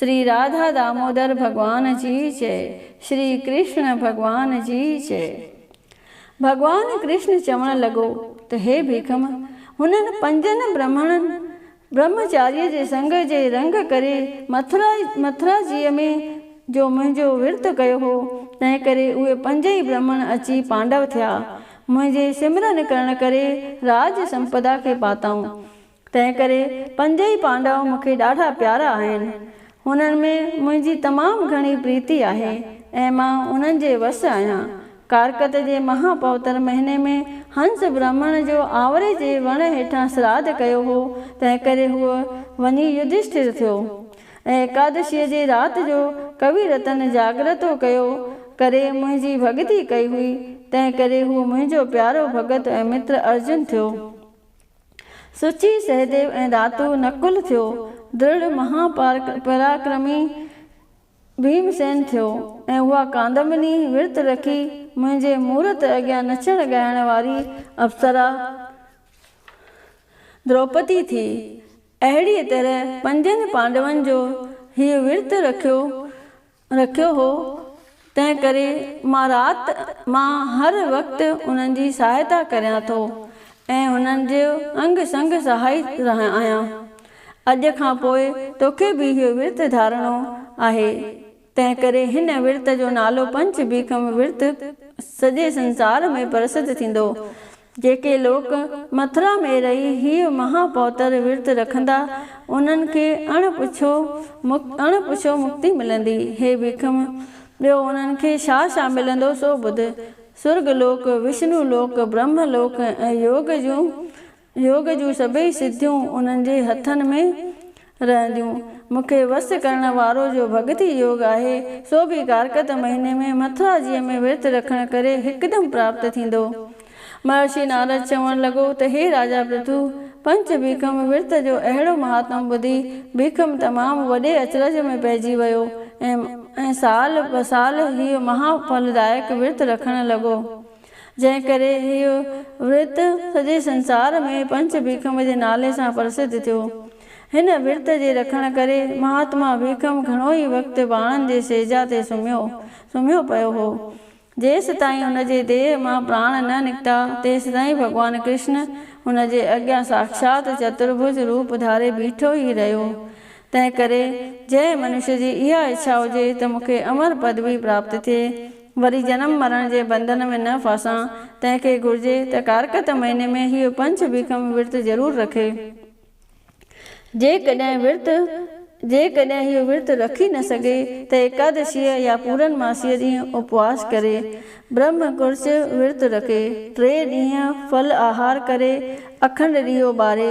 شري راڌا دامودر ڀڳوان جي جئي، شري ڪرشڻ ڀڳوان جي جئي. ڀڳوان ڪرشڻ چوڻ لڳو ته هي ڀيکم، هنن پنجن برهمڻن برهمچاريء جي سڱ جي رنگ ڪري مٿرا مٿرا جيء ۾ جو منهنجو ورت ڪيو هو، تنهن ڪري اهي پنج ئي برهمڻ اچي پانڊو ٿيا. منهنجي سمرن ڪرڻ ڪري راڄ سمپدا کي پاتائون. تنهن ڪري پنج ئي پانڊو مون کي ڏاڍا پيارا آهن. هنن ۾ منهنجي تمام گهڻي پريتي آهي ۽ مان انهن جي وس آهيان. ڪارڪت جي مها پوتر مهيني ۾ هنس برهمڻ جو آنوري جي وڻ هيٺان سراڌ ڪيو هو، تنهن ڪري هو وڃي يڌشٺر ٿيو ۽ ايڪادشيء جي رات جو ڪوي رتن جاگرتو ڪيو ڪري منهنجي ڀڳتي ڪئي هئي، تنهن ڪري هو منهنجو پيارو ڀڳت ۽ متر ارجن ٿيو. سچي سهديو ۽ ڌاتو نڪل ٿيو، درڙ مها پراڪرمي ڀيم سين ٿيو ۽ اها ڪاندمني ورت رکي منهنجي مورت اڳيان نچڻ ڳائڻ واري اپسرا دروپدي ٿي. اهڙيء طرح پنجن پانڊون جو هيء ورت رکيو رکيو هو، تنهن ڪري مان رات مان هر وقت انهن جي سهائتا ڪريان ٿو ۽ هنن جو انگ سنگ سهائي رهيو آهيان. اڄ کان پوء توکي به اهو ورت ڌارڻو آهي، تنهن ڪري هن ورت جو نالو پنچ بيڪم ورت سڄي سنسار ۾ پرسڌ ٿيندو. جيڪي لوڪ مٿرا ۾ رهي هيء مها پوتر ورت رکندا، انهن کي اڻ پڇو اڻ پڇو مڪتي ملندي. هي ڀيڪم! ٻيو انهن کي ڇا ڇا ملندو سو ٻڌ. سرڳ لوڪ، وشنو لوڪ، برهمه لوڪ ۽ يوگ جون يوگ جون سڀئي سڌيون انهن جي هٿن ۾ رهنديون. مون کي وس ڪرڻ وارو جو ڀڳتي يوگ آهي، سو به ڪارڪت مهيني ۾ مٿرا جيء ۾ ورت رکڻ ڪري هڪدم پراپت ٿيندو. مهرشي نارد چوڻ لڳو ته هي راجا پرٿو! پنچ ڀيکم ورت جو اهڙو مهاتم ٻڌي، ڀيکم تمام وڏي اچرج ۾ پئجي ويو ۽ سال بسال هيء مها ڦلدائڪ ورت رکڻ لڳو. جنهن ڪري هيء ورت سڄي سنسار ۾ پنچ ڀيکم جي نالي سان پرسڌ ٿيو. هن ورت جي رکڻ ڪري مهاتما ڀيکم گهڻو ئي وقت ٻانهن جي سيجا تي سمهيو سمهيو پيو هو. جيستائين هن جي ديهه مان پراڻ نه نڪتا، تيستائين ڀڳوان ڪرشن هن جي اڳيان ساکشات چترڀج روپ ڌاري بيٺو ئي رهيو. تنهن ڪري جنهن منشي جي اها اڇا هجي ته مون کي امر پدوي پراپت ٿئي، وري جنم مرڻ جي بندن ۾ نه ڦاسان، تنهن کي گهرجي ته ڪارڪت مهيني ۾ هيء پنچ بيکم ورت ضرور رکي. جيڪڏهن ورت جيڪڏهن هيء ورت رکي نه سگهي ته ايڪادشيء يا پورن ماسيء ڏينهن اپواس ڪري، برهمه ڪرچ ورت رکي، ٽي ڏينهن ڦل آهار ڪري، اکنڊ ڏيئو ٻاري،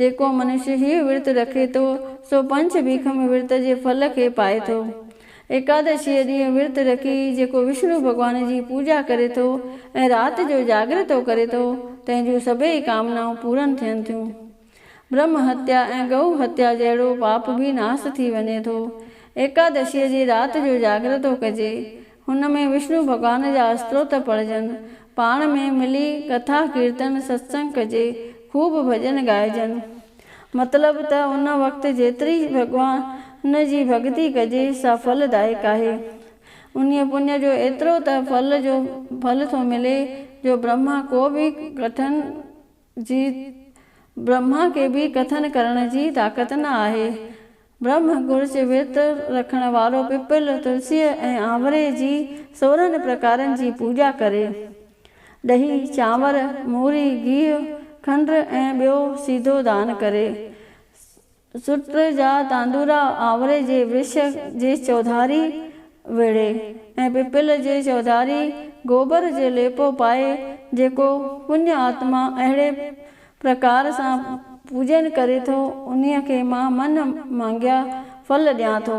جيڪو منش هيء ورت رکي ٿو، سو پنچ ڀيک ۾ ورت جي ڦل کي پائي ٿو. ايڪادشيء ڏينهن ورت رکي جيڪو وشنو ڀڳوان جي پوڄا ڪري ٿو ۽ رات جو جاڳرتو ڪري ٿو، تنهن جون سڀيئي ڪامنائون پورن ٿين ٿيون. برهمه هتيا ۽ گئو هتيا جهڙو پاپ به ناس ٿي وڃي ٿو. ايڪادشيء جي رات جو جاڳرتو ڪجي. هن ۾ وشنو ڀڳوان جا استوت پڙهجن، پاڻ ۾ ملي ڪٿا ڪيرتن ستسنگ ڪجي، خوب ڀڄن ڳائجن. مطلب ته ان وقت جيتري ڀڳوان جي ڀڳتي ڪجي سا ڦل دائڪ آهي. انهيء پڃ جو ايترو ته ڦل جو ڦل ٿو ملي جو برهما ڪو به ڪٺن جي برهما کي به ڪٿن ڪرڻ جي طاقت نه آهي. برهما گرچ ورت رکڻ وارو پپل، تلسيء ۽ آنوري جي سورهن پرڪارن جي پوڄا ڪري. ڏهي، چانور، موري، گيهه، کنڊ ۽ ٻيو سيڌو دان ڪري. سٽر جا تاندورا آوري جي ورڇ جي چوڌاري ويڙهي ۽ پپل جي چوڌاري گوبر جو ليپو پائي جيڪو پڃ آتما اهڙي پرڪار سان پوڄن ڪري ٿو انهيء کي مان من مانگيا ڦل ڏيان ٿو.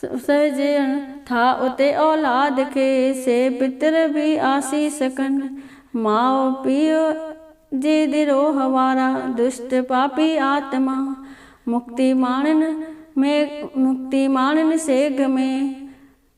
سهجن ٿا اتي اولاد کي سي پتر به آسيس ڪن ماء پيء جي دروهه وارا دشٽ پاپي آتما مڪتي ماڻن ۾ مڪتي ماڻن سيگهه ۾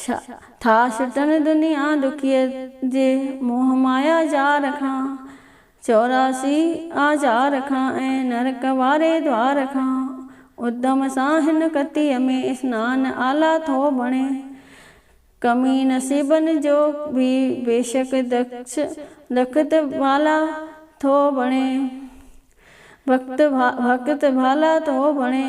ڇا ٿا ڇٽن دنيا ڏکيء جي موهه مايا ڄار کان، چوراسي آزار کان ۽ نرڪ واري دوار کان، ادم سان هن ڪتيء ۾ اسنان اعليٰ ٿو بڻي. ڪمي نصيبن جو به بيشڪ دکش لکت ڀالا ٿو بڻي، ڀڪت ڀالا ٿو بڻي.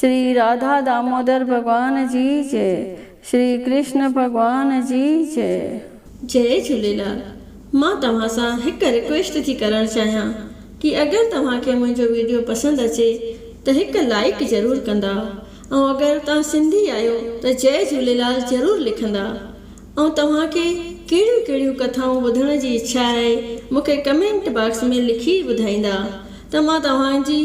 شري راڌا دامودر ڀڳوان جي جئي شري ڪرشن ڀڳوان جي جئي. جئي جهوليلال مان توهان سان هڪ رڪويسٽ ٿي ڪرڻ چاهيان ڪي اگر توهان کي منهنجو ويڊيو پسند اچي ته هڪ لائيڪ ضرور ڪندا ۽ اگر توهان سنڌي آهيو ته جئي جهوليلال ضرور لکندا ۽ توهان کي ڪهڙيون ڪهڙيون ڪٿائون ٻڌڻ جي اڇا آهي مونکي ڪمينٽ باڪس ۾ لکي ٻڌائيندا ته مان توهان جي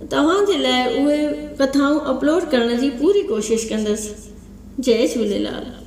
توهان جي لاء اهي ڪٿائون اپلوڊ ڪرڻ جي پوري ڪوشش ڪندس جئي جهوليلال.